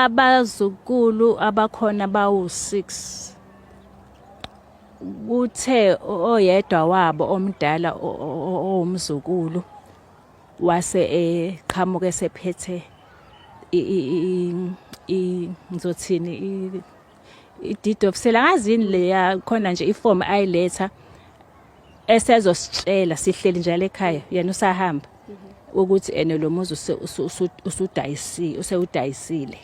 Abazukulu abakhona bawu-6 kuthe oyedwa wabo omdala owumzukulu wase eqhamuka esephethe ngizothini i-deed of sale angazi yini leya khona nje ifomu ayiletha esezositshela sihleli njalo ekhaya yena usahamba ukuthi ene lo muzi usudayisile usewudayisile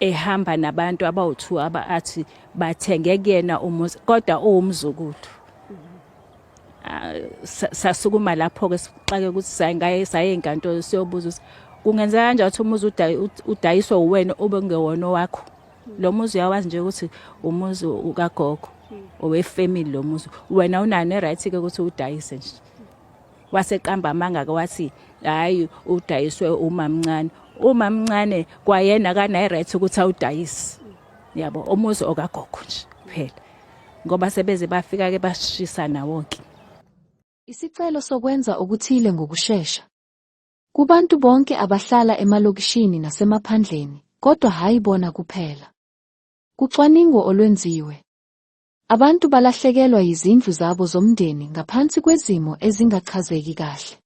ehamba nabantu abawu2 aba athi bathenge kuyena umuzi kodwa uwumzukulu ah, sasukuma lapho ke sixake ukuthi sayingaye saye enkantolo siyobuza ukuthi kungenzeka kanjani ukuthi umuzi udayiswe uwena obengewona wakho lo muzi uyawazi nje ukuthi umuzi ukagogo owefamily lo muzi wena unayo ne-right ke ukuthi udayise nje waseqamba amanga-ke wathi hhayi udayiswe umamncane umamncane kwayena kanayi-right ukuthi awudayise yabo umuzi okagogo nje kuphela ngoba sebeze bafika-ke basishisa nawo-ke isicelo sokwenza okuthile ngokushesha Kubantu bonke abahlala emalokishini nasemaphandleni, kodwa hhayi bona kuphela. Kucwaningo olwenziwe, abantu balahlekelwa yizindlu zabo zomndeni ngaphansi kwezimo ezingachazeki kahle.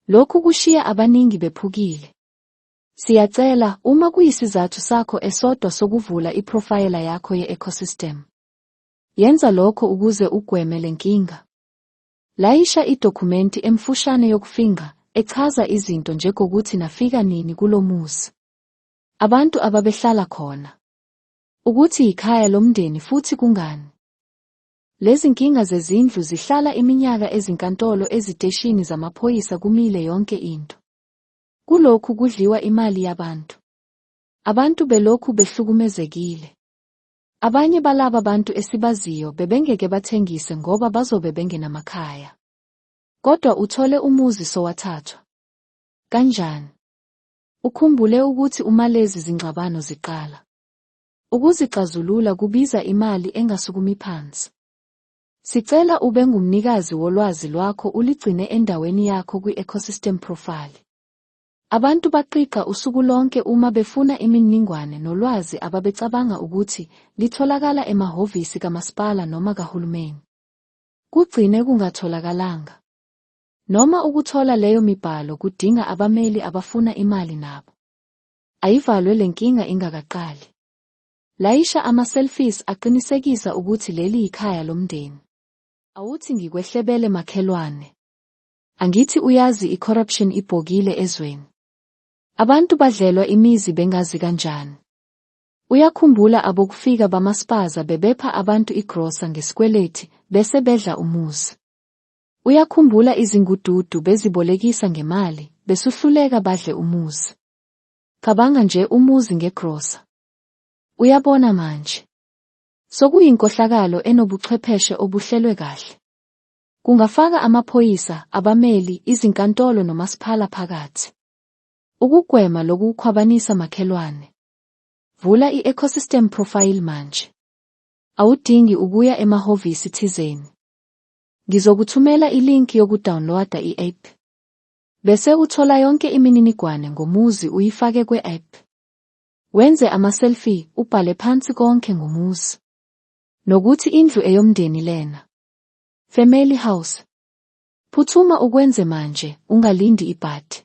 Lokhu kushiya abaningi bephukile. Siyacela, uma kuyisizathu sakho esodwa sokuvula iphrofayela yakho ye-ecosystem, yenza lokho ukuze ugweme le nkinga. Layisha idokhumenti emfushane yokufingqa echaza izinto njegokuthi nafika nini kulo muzi, abantu ababehlala khona, ukuthi yikhaya lomndeni futhi kungani. Lezinkinga zezindlu zihlala iminyaka ezinkantolo eziteshini zamaphoyisa kumile yonke into. Kulokhu kudliwa imali yabantu. Abantu belokhu behlukumezekile. Abanye balaba bantu esibaziyo bebengeke bathengise ngoba bazobe bengenamakhaya. Kodwa uthole umuzi sowathathwa. Kanjani? Ukhumbule ukuthi uma lezi zingxabano ziqala, ukuzixazulula kubiza imali engasukumi phansi. Sicela ube ngumnikazi wolwazi lwakho uligcine endaweni yakho kwi-ecosystem profile. Abantu baqiqa usuku lonke uma befuna iminingwane nolwazi ababecabanga ukuthi litholakala emahhovisi kamasipala noma kahulumeni. Kugcine kungatholakalanga. Noma ukuthola leyo mibhalo kudinga abameli abafuna imali nabo. Ayivalwe le nkinga ingakaqali. Layisha ama-selfies aqinisekisa ukuthi leli yikhaya lomndeni. Awuthi ngikwehlebele makhelwane. Angithi uyazi icorruption ibhokile ezweni. Abantu badlelwa imizi bengazi kanjani. Uyakhumbula abokufika bamaspaza bebepha abantu igrosa ngesikweleti bese bedla umuzi. Uyakhumbula izingududu bezibolekisa ngemali besuhluleka badle umuzi. Cabanga nje umuzi ngegrosa. Uyabona manje. Sokuyinkohlakalo enobuchwepheshe obuhlelwe kahle. Kungafaka amaphoyisa, abameli, izinkantolo nomasiphala phakathi. Ukugwema loku kukhwabanisa makhelwane. Vula i-ecosystem profile manje. Awudingi ukuya emahhovisi thizeni. Ngizokuthumela ilinki yokudownloada i-app. Bese uthola yonke imininigwane ngomuzi uyifake kwe-app. Wenze ama-selfie, ubhale phansi konke ngomuzi. Nokuthi indlu eyomndeni lena. Family House. Phuthuma ukwenze manje, ungalindi ibhadi.